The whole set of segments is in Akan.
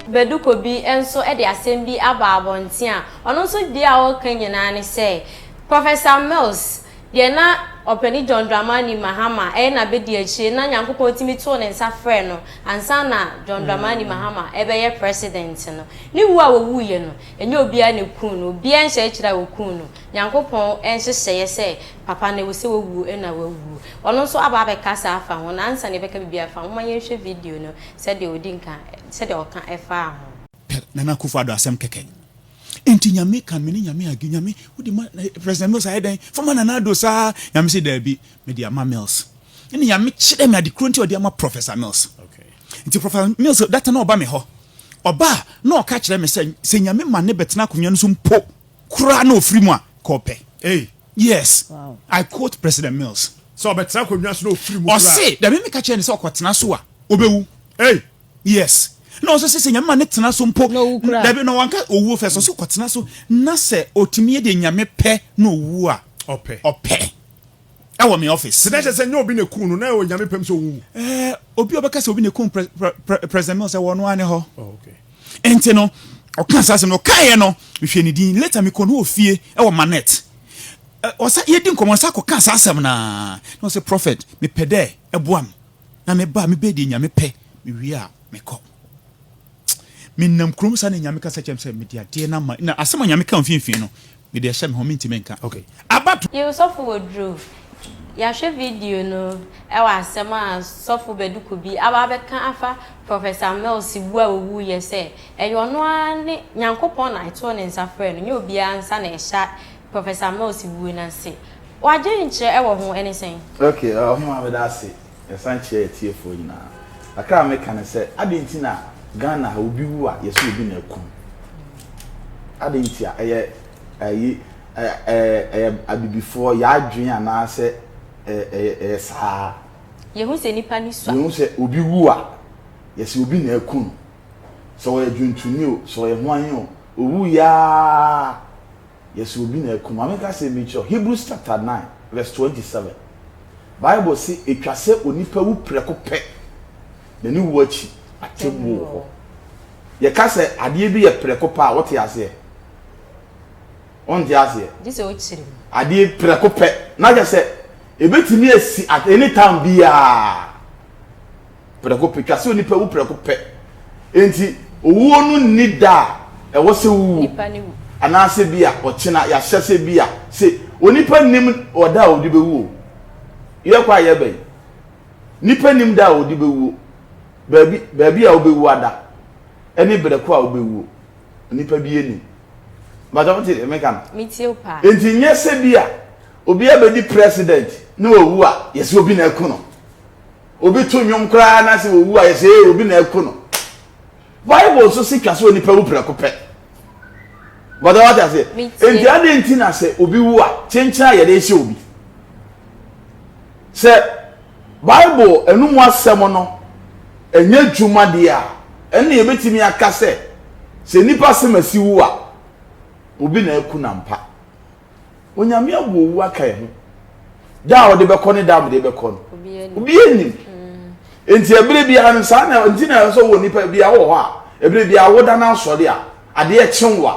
Baduko bi nso de asɛm bi aba abɔnten a ɔno nso deɛ a ɔreka nyinaa ne sɛ, Professor Mills deɛ na Ɔpanin John Dramani Mahama yɛ n'abadiakyire na Nyankopɔn tumi too ne nsa frɛɛ no ansa na John Dramani Mahama rebɛyɛ President no. Ne wuo a wɔwuiɛ no, ɛnyɛ obiara na ɛkuu no, obiara nhyɛɛ kyerɛ a wɔkuu no. Nyankopɔn nhyehyɛeɛ sɛ Papa no ewuse wowuo ena wawuo. Ɔno nso aba abɛkasa afa ho no ansa na yɛbɛka biribi afa ho. Momma yɛnhwɛ video no sɛdeɛ ɔdi nka sɛdeɛ ɔka ɛfaa ho. Pɛ Nana Akufo Addo asɛm kɛkɛ. Enti Nyame ka mene Nyame age Nyame wode ma President Mills ayɛ dɛn fama Nana Addo saa Nyame se daabi mede ama Mills ɛna Nyame kyerɛ me adekoro nti ɔde ama Professor Mills nti Professor Mills data na ɔba me hɔ ɔba a na ɔka kyerɛ me sɛ sɛ Nyame ma ne bɛtena akonwa no so mpo koraa na ɔfiri mu a kɔ pɛ. Ei! Yes, I quote President Mills. Sɛ ɔbɛtena akonnwa so na ɔfiri mu koraa. Ɔse, da bi meka kyerɛɛ no sɛ ɔkɔtena so a, ɔbɛwu. Ei! Yes. Na ɔse sɛ Nyame ma no tena so mpo, na ɔwu koraa. Dabi, na wanka ɔwuo first, ɔse ɔkɔtena so, na sɛ ɔtumi yɛ deɛ Nyame pɛ na ɔwu a, Ɔpɛ. ɔpɛ. Ɛwɔ me office. Te dɛ kyerɛ sɛ nyɛ obi na ɛkum no, na ɛwɔ Nyame pɛ mu sɛ ɔwuwu. Eh, obi a ɔbɛka sɛ obi na ɛkum Pre, Pre, Pre, President Mills, ɛwɔ ɔno ara ne hɔ. Oh, okay. Enti no, ɔkaa saa asɛm no, ɔkaeɛ no, mehwɛɛ ne din. Later mekɔɔ no wɔ fie wɔ Manette. Ɛ, ɔsa, yɛdi nkɔmmɔ, ɔsa kɔkaa saa asɛm no ara. Na ɔse, Prophet, mepɛ dɛ ɛboa me, na meba a, mebɛyɛ deɛ Nyame pɛ, mewie a, mekɔ. Menam kurom saa na Nyame kasa kyerɛɛ me sɛ mede adeɛ no ama, na asɛm a Nyame kaa mfimfini no, Me deɛ ɛhyɛ me ho mentimi nka. Okay abato. Yiw sɔfo wɔ duru. Yɛahwɛ video no wɔ asɛm a sɔfo Bɛduku bi aba abɛka afa Professor Mills wu a owuiɛ sɛ ɛyɛ ɔno ara ne Nyankopɔn na ɛtoo ne nsa frɛɛ no, nyɛ obiara nsa na ɛhyɛ Professor Mills wuo no ase. W'adwene kyerɛ wɔ ho ne sɛn? Okay, Ɔhema meda ase. Yɛsan kyerɛ atiefoɔ nyinaa. Kakra a meka ne sɛ, adɛn nti na Ghana ha obi wu a yɛse obi na akum? Adɛn nti a ɛyɛ ayi ɛyɛ abibifoɔ yɛadwen anaasɛ ɛyɛ saa? Yɛhu sɛ nipa ani sua. Yɛhu sɛ obi wu a yɛse obi na aku no. Sɛ ɔyɛ dwontoni o, sɛ ɔyɛ hwan o, owuiɛ ara. Yɛse obi na akum. Ma menka asɛm bi nkyerɛ wo, Hebrews chapter nine verse twenty seven, Bible se etwa sɛ onipa wu prɛko pɛ, na ne wu akyi, atemmuo wɔ hɔ. Yɛka sɛ adeɛ bi yɛ prɛko pɛ a, wote aseɛ? Wonte aseɛ? Gye sɛ wokyiri mu. Adeɛ prɛko pɛ, na kyerɛ sɛ ebetumi asi at any time biara. Prɛko pɛ, twa sɛ onipa wu prɛko pɛ. Enti owuo no nni da a ɛwɔ sɛ wowuo, anaasɛ bi a ɔkyena yɛahyɛ sɛ bi a se onipa nnim ɔda a ɔde bɛwuo. Yɛkɔ a yɛbɛn? Nipa nnim da a ɔde bɛwuo, baabi baabi a wobɛwuo ada, ɛne brɛko a wobɛwuo. Onipa biara nnim. Mpakyɛ wote deɛ meka no? Metie wo paa. Enti nyɛ sɛ bi a obi abɛdi president na wawu a yɛse obi na aku no. Obi to nnwom koraa na sɛ owu a yɛsɛ ee obi na ɛko no. Bible nso si twa sɛ onipa wu prɛko pɛ. Bɔdɔ wate aseɛ. Enti adɛn nti na sɛ obi wu a kyenkyen a yɛde hyɛ obi. Sɛ Bible ɛno mu asɛm no ɛnyɛ adwuma deɛ a ɛnna yɛbɛtumi aka sɛ sɛ nipa sɛm asi wu a obi na ɛko no ampa. Onyame abu owu aka yɛn ho. Da a ɔde bɛkɔ ne da a mede bɛkɔ no, obiara nnim. Enti ɛberɛ biara no saa na nti na ɛsɛ wɔ nipa biara wɔ hɔ a ɛberɛ biara woda no asɔre a adeɛ kye wo a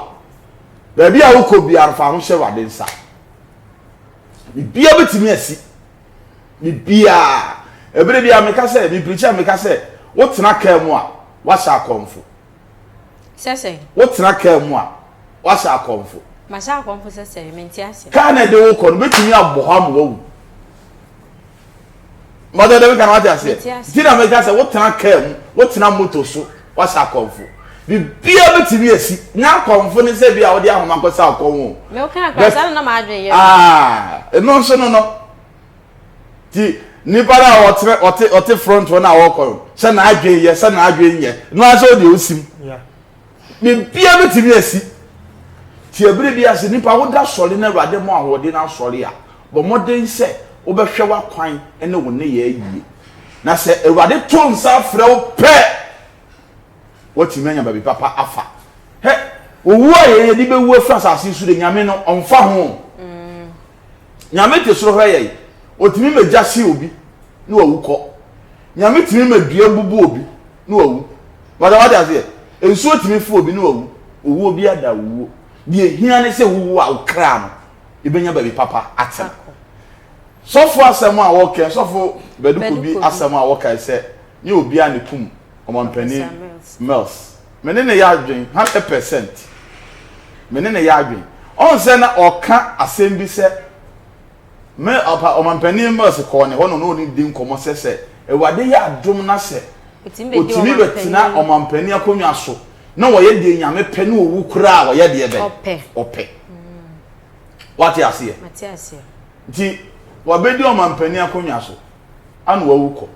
baabi a wokɔ biara no fa ho hyɛ Awurade nsa. Biribiara bɛtumi asi. Biribiara. Ɛberɛ biara meka sɛ, mepirikyi a meka sɛ wotena kaa mu a wahyɛ akɔmfo. Sɛ sɛn? Wotena kaa mu a, woahyɛ akɔmfo. Mahyɛ akɔmfo sɛ sɛn? Mente ase. Kaa no a ɛde wo kɔ no betumi abɔ hɔ ama woawu. Mother de meka no wate aseɛ? Mete aseɛ. Nti na meka sɛ wotena kaa mu, wotena moto so, woahyɛ akɔmfo. Biribiara betumi asi. Nyɛ akɔmfo ne sɛ ebia wode ahoma kɔsaw kɔn o. Me wokaa koraa But, saa na na m'adwene yɛ no. ah, ɛno nso no no. Nti nnipa no a wɔtena wɔte wɔte front hɔ no a wɔkɔ no sɛ n'adwene yɛ sɛ n'adwene nyɛ no ara sɛ ɔdeɛ ɔsim biribiara bɛtumi asi nti ɛberɛ bi ase nnipa woda sɔre no awurade mu ahoɔden no asɔre a bɔ mmɔden sɛ wobɛhwɛ w'akwan ne wo ne yɛ ayie na sɛ awurade to nsa frɛ wo pɛ watumi anya baabi papa afa hɛ owuo a yɛyɛ de bɛwu afiri asase so de nyame no ɔmfa ho mm. Nyame te soro hwɛ yɛn. Ɔtumi ma gya hye obi na wawu kɔ. Nyame tumi ma dua bubu obi na wawu. Bata wate aseɛ? Nsuo tumi fo obi na wawu. Owuo biara da owuo. Deɛ ɛhia ne sɛ wowu a wo kra no ɛbɛnya baabi papa atena. Sɔfo asɛm a wɔkɛ, sɔfo Bɛdukobi asɛm a wɔkae sɛ nyɛ obiara na ɛkum Ɔmampanin Mills. Me ne no yɛ adwene hundred percent. Me ne no yɛ adwene. Ɔn sɛ na ɔka asɛm bi sɛ, me ɔpa ɔmanpanin Mills kɔɔ ne hɔ na ɔne ɔne no di nkɔmɔ sɛ sɛ Awurade yɛ adom na sɛ ɔtumi bɛtena ɔmanpanin akonnwa so na wɔyɛ deɛ Nyame pɛ na ɔwu koraa a wɔyɛ deɛ bɛn? Ɔpɛ. Wate aseɛ? Nti wabɛdi ɔmanpanin akonnwa so ana wawu kɔ.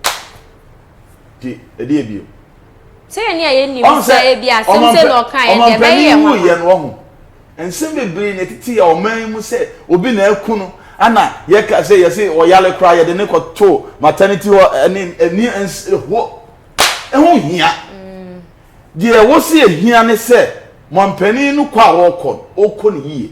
Ti ɛdeɛ bio. Sɛ yɛn a yɛn nim sɛ ebi asɛm sɛ na ɔka yɛn deɛ ɛbɛyɛ yɛn nwanwa. Ɔmampanin wuyɛ no ɔho nsɛm bebree na ɛtete yɛ ɔman yi mu sɛ obi na aku no ana yɛka sɛ yɛse ɔyale koraa yɛde ne kɔto maternity hɔ ɛne ɛni ɛnsɛ hɔ ɛho hia deɛ wɔsi ɛhia ne sɛ mampanin no kɔ a ɔkɔ no ɔkɔ no yie.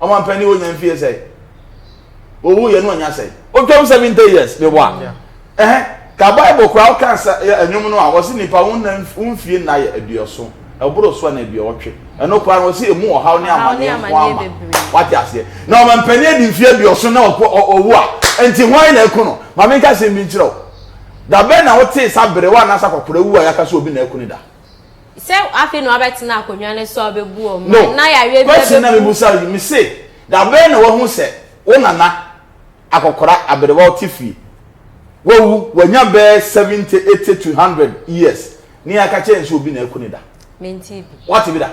Ɔmanpanin wɔ nya mfie sɛn? Owu yɛ no ɔnya sɛn? Otwam seventy years ne wa. Ɛhɛn ka Bible koraa ɔka nsa ɛnwom no a wɔsi nipa wo nna wo mfie nna yɛ aduoson ɛboro so ɛna aduowɔtwe ɛno koraa no wɔsi emu ɔhaw ne amaneɛ nko ama wate aseɛ na ɔmanpanin adi mfie aduoson na ɔkɔ ɔwu a nti hwan na ɛku no maame nka sɛm bi nkyerɛ o dabɛn na wotee sa berewa anasa kɔkora wu a yaka so obi na ɛku ne da. sɛ afei na wabɛtena akonnwa no so a ɔbɛbu wɔn no na yareɛ bi question na mebusa yi me se da bɛn na wahu sɛ wo nana akɔkora aberewa ɔte fie wawu wanya bɛɛ seventy eighty to hundred years ne yɛaka kyerɛ yɛn sɛ obi na aku ne da wate bi da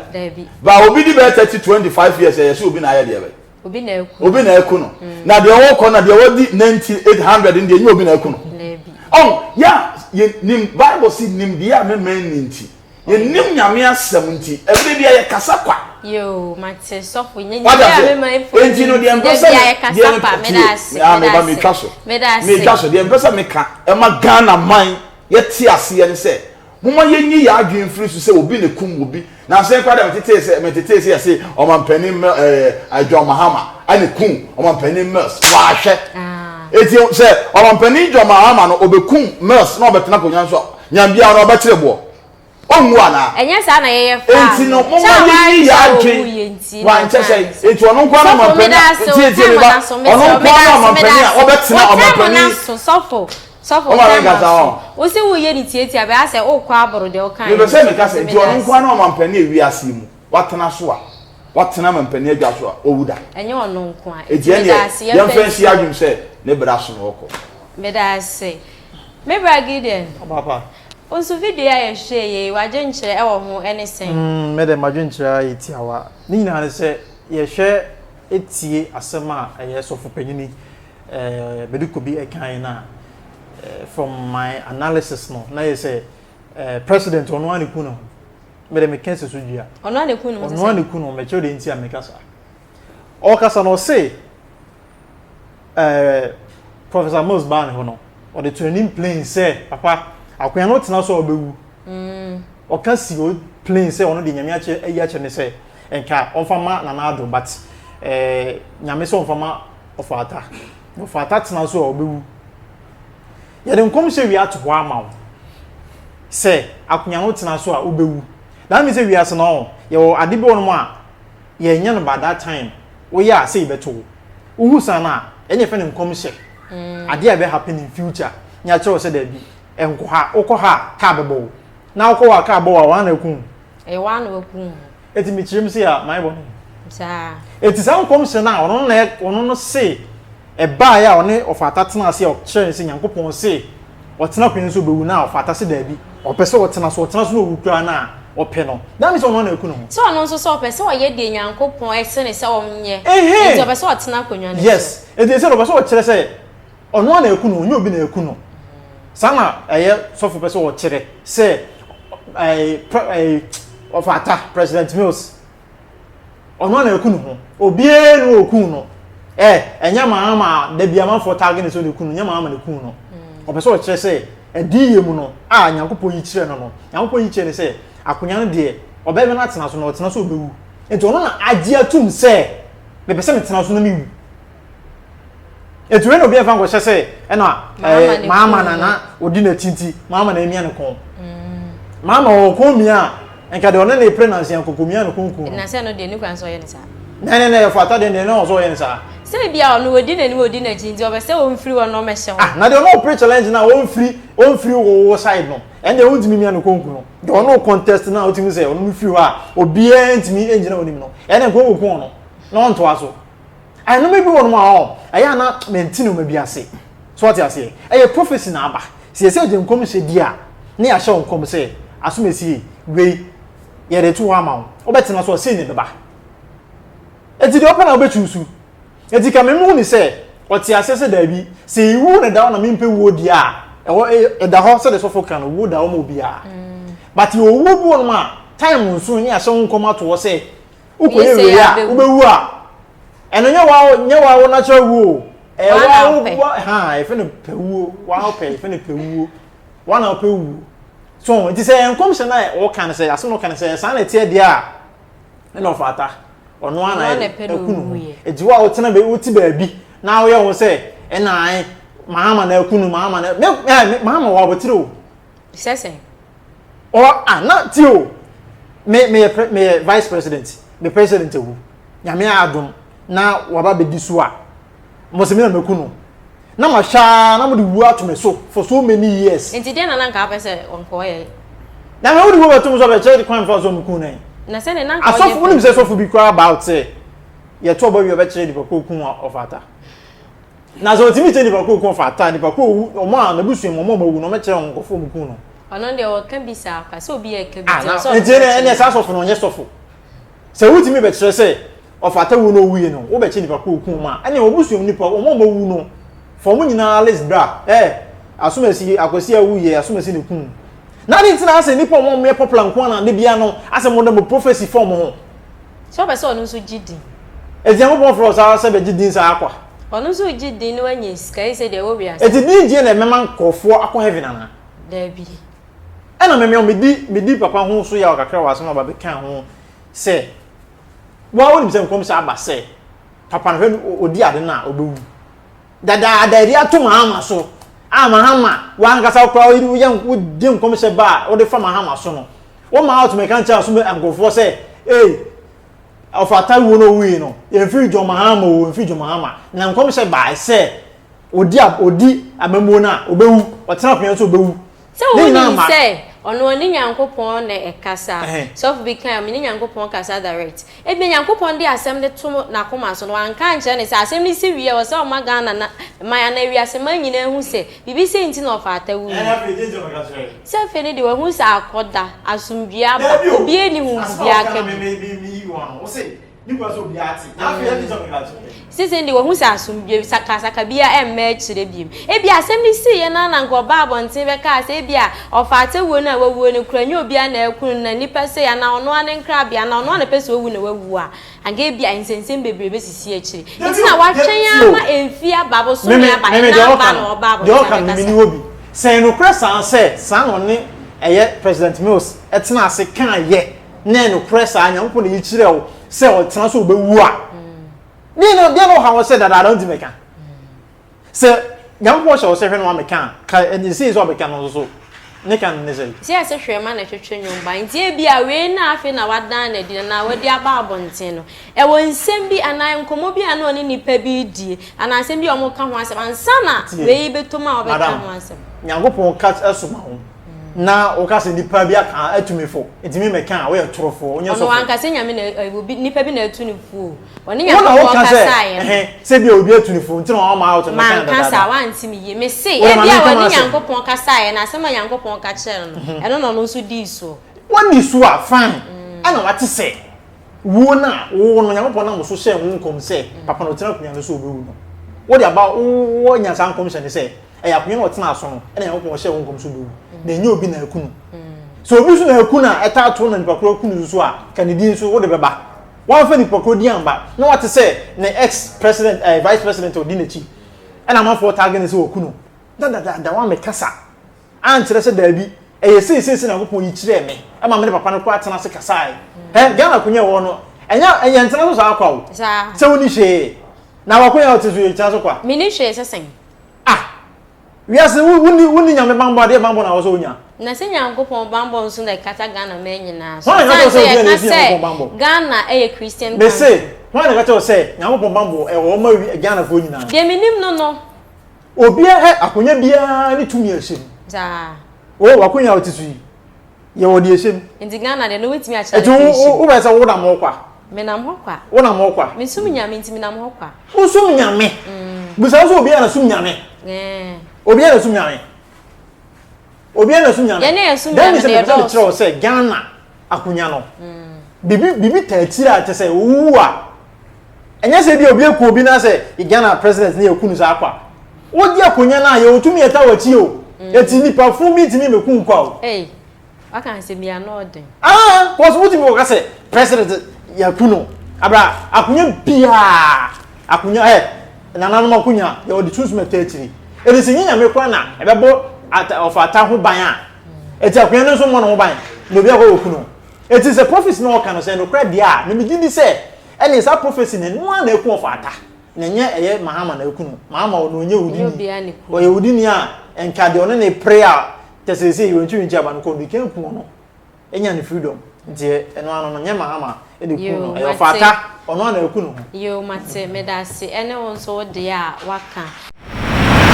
ba obi di bɛɛ thirty twenty five years a yɛsɛ obi na ayɛ deɛ bɛn obi na aku no obi na aku no mm. na deɛ wɔkɔ na deɛ wɔdi nanti eight hundred no deɛ nyɛ obi na aku no ɔn yɛ a yɛ nim bible si nim deɛ a mɛmɛn ni nti yɛ nim nyame asɛm nti ɛbili deɛ yɛ kasa kwa. yoo mate sɔfo nyɛ nyɛ deɛ a mɛmɛn fo nti deɛ deɛ mpɛsɛ deɛ yɛ kasa kwa mɛdaase mɛdaase mɛtwa so mɛdaase mɛtwa so deɛ mpɛsɛ mɛka ɛma ghana man yɛ te aseɛ ne sɛ Momma yɛnyi yɛn adwene mfiri so sɛ obi na ɛkum obi. Nanso yɛn koraa deɛ metetee sɛ, metetee sɛ yɛse ɔmampanin Mil, ɛɛ, John Mahama na ɛkum ɔmampanin Mills. Waa hwɛ. Enti sɛ ɔmampanin John Mahama no ɔbɛkum Mills na ɔbɛtena akonwa no so a, Nyambia no ɔbɛkyere boɔ? Ɔnwu anaa? Ɛnyɛ saa na yɛyɛ faa no. Enti no momma yɛnyi yɛn adwene, wankyɛ sɛn? Enti ɔno nkoa na ɔmampanin a, tie, tie me ba, ɔno nkoa na ɔmampanin a ɔbɛtena ɔmampanin. Sɔfo time up so wo se wo yɛ ne tiatia bɛyɛ sɛ wo kɔ aboro deɛ wo kan yɛ. Mepɛ sɛ meka sɛ nti ɔno nkoa ne ɔmampanin a wiase yi mu watena so a watena mampanin adwa so a wawu da. Ɛnyɛ ɔno nkoa. Nti ɛneɛ yɛmfa nsi adwene sɛ ne bra so na ɔkɔ. Meda ase. Me bra Gideon. Papa. Wo nso video yi a yɛhwɛɛ yei w'adwenkyerɛ ɛwɔ ho ɛne sɛn? Mm me de m'adwenkyerɛ ara yɛ tiawa. Ne nyinaa ne sɛ yɛhwɛ tie asɛm a ɛyɛ sɔfo panyin yi eh, bɛde kɔ bi ɛkan no a eh, from my analysis no na yɛ sɛ eh, president ɔno a ne ku ne ho mede meka sɛ so dua ɔno a ne ku ne ho ɔno a ne ku ne ho mɛkyerɛ deɛ nti a meka saa ɔkasa no ɔse eh, professor mills baa ne hɔ no ɔde to anim plain sɛ papa akoya no tena so a ɔbɛwu mm. ɔka si o plain sɛ ɔno de nyame akyɛ ayi akyɛ ne sɛ nka ɔmfa ma nana ado but eh, nyame sɛ ɔmfa ma Ɔfata. Na ɔfata tena so a ɔbɛwu. Yɛde nkɔmhyɛ wie ato hɔ ama wo sɛ akonnwa no tena so a wobɛwu. That means sɛ wiase no ɔ yɛwɔ ade bi wɔ nom a yɛnyɛ no by that time woyɛ a sɛ yɛbɛto wo. Wohu saa no a ɛne yɛfɛ no nkɔmhyɛ. Mm. Adeɛ a ɛbɛ happen in future ne akyerɛ wo sɛ daabi ɛnkɔ ha wokɔ ha a kaa bɛbɔ wo na wokɔ hɔ a kaa bɔ wo a wɔn na aku wo. Ɛyɛ wɔn na waku wo. Eti mi kyerɛ mu se a mayɛ bɔne. Saa. Eti saa nkɔmhyɛ no a ɔno no na ɔno no se ɛbaeɛ a ɔne ɔfata tena ase a ɔkyerɛɛ no sɛ Nyankopɔn se ɔtena akonnwa no so ɔbɛwu no a ɔfata se daabi ɔpɛ sɛ ɔtena so ɔtena so na ɔwu koraa no a ɔpɛ no that means sɛ ɔno no na aku ne ho. Sɛ ɔno nso sɛ ɔpɛ sɛ ɔyɛ deɛ Nyankopɔn se no sɛ ɔnyɛ enti ɔpɛ sɛ ɔtena akonnwa no so. Yes enti ɛsɛ no ɔpɛ sɛ ɔkyerɛ sɛ. Ɔno ara na ɛku no, ɔnyɛ obi na ɛku no. Saa na ɛyɛ sɔfo pɛ sɛ ɔkyerɛ sɛ ɔfata President Mills. Ɔno ara na ɛku ne ho. Obiara na ɔkuu no. Ɛ ɛnyɛ maa ma da bi amanfoɔ taage ne sɛ ɔna ɛku no, nyɛ maa ma na ɛku no. Ɔpɛ sɛ ɔkyerɛ sɛ adiyie mu no a Nyankopɔn yi kyerɛ no no, Nyankopɔn yi kyerɛ no sɛ akonya no deɛ ɔbɛbɛ no atena so na ɔtena so ɔbɛwu. Nti ɔno na agye atum sɛ mepɛ sɛ metena so na mewu. ɛtumi na obi ɛfa nkɔhyɛ sɛ ɛna ɛɛ maama na na ɔdi n'akyi nti maama na emia ne kɔn mm. maama wɔn kɔn mia a nka deɛ ɔne ne pere nansi ankoko mia ne kɔn kun na sɛ no deɛ ne kwan sɛ ɔyɛ ne saa na ne na yɛ fata deɛ deɛ ne ɔsɔ ɔyɛ ne saa sɛ ebi a ɔno ɔdi n'anim ɔdi n'akyi nti ɔbɛ sɛ wɔn firi hɔ na ɔmɛ hyɛ hɔ ah na deɛ ɔno ɔpere challenge na wɔn firi wɔn firi wɔ wɔ side no ɛn deɛ ɔntumi mia ne kɔn kun no deɛ ɔno contest na ɔtumi sɛ ɔno firi hɔ a obiara ntumi ngyina onim no ɛn deɛ nkɔn wɔ kun ɔno na ɔntoa so. Ɛnome bi wɔ nom a ɔ, ɛyɛ a na mente noma bi ase. So wate aseɛ? Ɛyɛ prophecy na aba. Sɛ yɛsɛ yɛgye nkɔmhyɛ di a, ne yɛahyɛ wo nkɔm sɛ, asomasie wei, yɛde to hɔ ama wo. Wobɛtena so a, sei na ɛbɛba. Enti deɛ wopɛ na wobɛ choose. Enti ka mem hu ne sɛ, ɔte aseɛ sɛ daabi, sɛ ewuo na ɛda hɔ na mempɛ wuo deɛ a, ɛhɔ ɛ, ɛda hɔ sɛdeɛ sɔfo ka no, wuo da hɔ ma obiara. But yɛwɔ wuo bi wɔ nom a, time nso no, ne yɛahyɛ ho nkɔm ato hɔ sɛ, wokɔ yɛ wei a wobɛwu a ɛno nyɛ wa nyɛ wa wo natural wuo ɛyɛ wa wo bɔ ha ɛfɛ no pɛ wuo wa wo pɛ ɛfɛ no pɛ wuo wa na pɛ wuo so nti sɛ nkɔm sɛ na ɔka no sɛ asɛm ɔka no sɛ saa na ɛteɛ deɛ a ɛna ɔfa ata ɔno ana ɛku no ho ɛgye wo a wotena bɛ wote baabi na woyɛ wo sɛ ɛna ae maama na ɛku no maama na maama wɔ abɔtire o sɛ sɛn. ɔ ah na ti o me meyɛ pre meyɛ vice president me president awu nyame adom na waba bɛdi so a mose me na mɛku no na mahwɛ a na mode wuo ato me so for so many years nti deɛ na na nka wopɛ sɛ ɔnkɔɔyɛ na me wode wuo bɛto me so bɛkyerɛ kwan fa so meku no na sɛ ne na nka asɔfo wonim sɛ sɔfo bi koraa about sɛ yɛto ɔbɔ wie ɔbɛkyerɛ nipa kɔ ku a ɔfata Na sɛ ɔtumi kyɛ nipa koro kɔn fata, nipa koro ɔwu, na ɔmo a, n'abusua mu, ɔmo a ɔmo awu no, ɔmo kyerɛ wɔn nkorɔfoɔ a ɔmo kum no. Ɔno deɛ ɔka bi saa kwa, sɛ obi ɛka bi Ah, nti na, ɛsɛ ɔno nti ɛneɛ, ɛneɛ saa sɔfo no ɔnyɛ sɔfo. Sɛ wotumi bɛkyerɛ sɛ, ɔfata wuo na ɔwuie no, wobɛkyɛ nipa koro a ɔkum ɔmo a, ɛneɛ wɔn abusua mu nipa, wɔn a ɔmo awu no, fa ɔmo nyinaa list bra, eh, Asomasi, Akwasi a wuiɛ, Asomasi na ɛkum wo. Na adɛn nti na asɛ nipa a ɔmo a ɔmo yɛ popular nko ara na da biara no, asɛ mo de mo prophecy fa ɔmo ho? Sɛ ɔpɛ sɛ ɔno nso gye din. Nti Nyankopɔn frɛ wo saa sɛ bɛgye din saa kwa? Ɔno nso regye din na wanya sika yi sɛ deɛ ɛwɔ wiase. Eti din gyeɛ na ɛbɛma nkorɔfoɔ akɔ heaven anaa? Daabi. Ɛna me me medi medi papa ho so yaw kakra wɔ asɛm a ɔba bɛkaa ho sɛ woa wonim sɛ nkɔmhyɛ aba sɛ papa no hwɛ no odi ade no a ɔbɛwu dadaada ɛde ato mahama so a mahama wankasa wokora woyere woyɛ wogye nkɔmhyɛ ba a wode fa mahama so no woma out mɛka nkyɛ aso nkurɔfoɔ sɛ ee Ɔfata wuo no owui no, yɛmfiri John Mahama o, yɛmfiri John Mahama. Na nkɔmhyɛ baae sɛ, ɔdi, ɔdi amammuo no a, ɔbɛwu, ɔtena akonnwa no so a, ɔbɛwu. Sɛ Ne nyinaa wonim ma. sɛ ɔno ɔne Nyankopɔn na ɛkasa. Ɛhɛn. Sɔfo bi kae, Ɔme ne Nyankopɔn kasa direct. Ebia Nyankopɔn de asɛm no to n'akoma so no, wanka ankyerɛ no sɛ asɛm no si wie a, ɛwɔ sɛ ɔma Ghana na man anaa wiase man nyinaa hu sɛ biribi sei nti na Ɔfata wuui. Ɛhɛn, afei deɛ nti na meka kyerɛɛ no? Sɛ afei no deɛ wahu sɛ akɔda, asomdwie aba, obiara nni ho biribi aka bio. Seesei deɛ wahu sɛ asomdwie, sakasaka biara ɛmma akyire bio. Ebia asɛm no siiɛ no ara na anka ɔbaa abɔnten bɛkaa sɛ ebia ɔfaata wuo no a wawuo no koraa ɛnyɛ obiara na akum no, na nnipa sei, anaa ɔno ara ne nkrabea, anaa ɔno ara na ɛpɛ sɛ ɔwu na wawu a, Anka ebia nsɛnsɛm bebree bɛsisi akyiri nti na watwɛn ara ma ɛmfiri aba abosome aba ɛna aba na ɔba abɔnten abɛkasa. Sɛ ɛyɛ nokorɛ saa sɛ saa na ɔne ɛyɛ President Mills tenaa ase kaeɛ na ɛyɛ nokorɛ saa Nyankopɔn na ɛyi kyerɛɛ wo sɛ ɔtena so wobɛwu a, deɛn na ɔhaw wo sɛ dadaada wontumi ka? Sɛ Nyankopɔn hyɛ wo sɛ hwɛ na woameka a, ka ɛnde sei sɛ ɔbɛka no nso so. Ne ka no ne sɛn? Gye a ɛse hwerɛma na ɛtwetwe nwom ba. Enti ebia wei na afei na wadan no adi anaa wadi aba abɔnten no. Ɛwɔ nsɛm bi anaa nkɔmmɔ bi a na ɔne nnipa bi redie anaa nsɛm bi a wɔreka ho asɛm ansa na wei rebɛtom a ɔbɛka ho asɛm. Madam, Nyankopɔn ka soma wo na woka sɛ nnipa bi aka atumi fo, enti me mɛka a, woyɛ torofoɔ, wonyɛ sɔfoɔ. Ɔno ankasa Nyame na, obi, nnipa bi na atu no fo o. wɔne nyankopɔn kasaeɛ no sɛ bia obi atu ne fo nti na wɔn ama out no kan dada kasa wanti mi yie me se ebi a wɔne nyankopɔn kasaeɛ na asɛm a nyankopɔn ka kyerɛ no mhm. ɛno na ɔno nso dii so wɔn di so a fine mm. ɛna wate sɛ wuo no a wo no nyankopɔn nam so hyɛ wo nkɔm sɛ mm. papa na ɔtena akonnwa no so ɔbɛwu no wode aba wowɔ nya saa nkɔmhyɛ ne sɛ ɛyɛ akonnwa no ɔtena aso no ɛna nyankopɔn ɔhyɛ wo nkɔm so bɛwu mm. na ɛnyɛ obi na aku no so obi so na aku no a ɛtaa to na nipa koro aku no nso a ka ne din so wode bɛba Wamfa nipa korɔ din amma na wate sɛ ne ex president ɛɛ vice president a ɔdi n'akyi ɛna amanfoɔ taage no sɛ wɔku no na dadaada wammɛkasa ankyerɛ sɛ daabi ɛyɛ sei sei sei Nyankopɔn yi kyerɛɛ me ɛma me ne papa no koraa tena ase kasaeɛ hɛ Ghana akonya ɛwɔ hɔ no ɛnyɛ yɛntena so saa kwa o sɛ wonni hwee na w'akonya a wote so yi kyena so kwa. Menni hwee sɛ sɛn? Ah! Wiase wo wo ni wo ni nyame banbɔ adeɛ banbɔ na wɔsɛ onya. Na sɛ nyankopɔn banbɔ nso na ɛkata Ghana man nyinaa so. Hwan na ɛka kyerɛ wo sɛ obi a na ɛsi nyankopɔn banbɔ. Ghana ɛyɛ Christian country. Mese hwan na ɛka kyerɛ wo sɛ nyankopɔn banbɔ ɛwɔ hɔ ma wi Ghana foɔ nyinaa. Deɛ me nim no no. Obia hɛ akonya biaa ne tumi a ɛhyɛ mu. Saa. Oh wakonya a wote so yi. Yɛ wɔ deɛ ɛhyɛ mu. Nti Ghana deɛ na wobɛtumi akyerɛ ade koro ɛhyɛ mu. Nti wo bɛ sɛ wo nam hɔ kwa. Me nam hɔ kwa. Wo nam hɔ kwa. Me som nyame nti me nam hɔ kwa. Wo som nyame. Bisa wo sɛ obiara na som nyame. Obiara na som nyame. Obiara na som nyame. Yɛne yɛ som nyame na yɛdɔɔso. Dɛn mi sɛ me pɛ sɛ me kyerɛ wo sɛ Ghana akonya no. Bibi taa tiri a kyɛ sɛ wo wu a. Ɛnyɛ sɛ ebia obi aku obi na sɛ Ghana president ne yɛku no saa kwa. Wodi akonya no a yɛwɔ tumi yɛta w'akyi o. Eti nipa funu bi ntumi mmeku wo kwa o. Ei, waka asɛm bi ano ɔden. Aa, cos wotumi kɔka sɛ president yɛaku no. Abra, akonya biara, akonya ɛ, nananom akonya yɛwɔ de sunsum ɛta akyiri. Eti sɛ nyɛ Nyame koraa na ɛbɛbɔ ɔfata ho ban a, eti akonya no nso mmɔ ne ho ban na obi akɔ akɔku no. Enti sɛ prophecy no a ɔka no sɛ ɛyɛ nokorɛ deɛ a, me megye di sɛ ɛneɛ saa prophecy no ɛno ara na ɛku ɔfata, na ɛnyɛ ɛyɛ Mahama na ɛku no. Mahama ɔno ɔnyɛ Ɛnyɛ odini. obiara na ɛku no. Ɔyɛ odini a ɛntwa deɛ ɔne no pere a kyɛ seesei Yɛwɛnkye Wɛnkye aba no kɔ no, ɛkan ku ɔno ɛnya ne freedom. Nti ɛ, ɛno ano no ɛnyɛ Mahama na ɛku no, Yoo, ɛyɛ mate. ɔfata, ɔno ara na ɛku ne ho. Yoo, mate. Medase. Ɛne wo nso wo deɛ a woaka.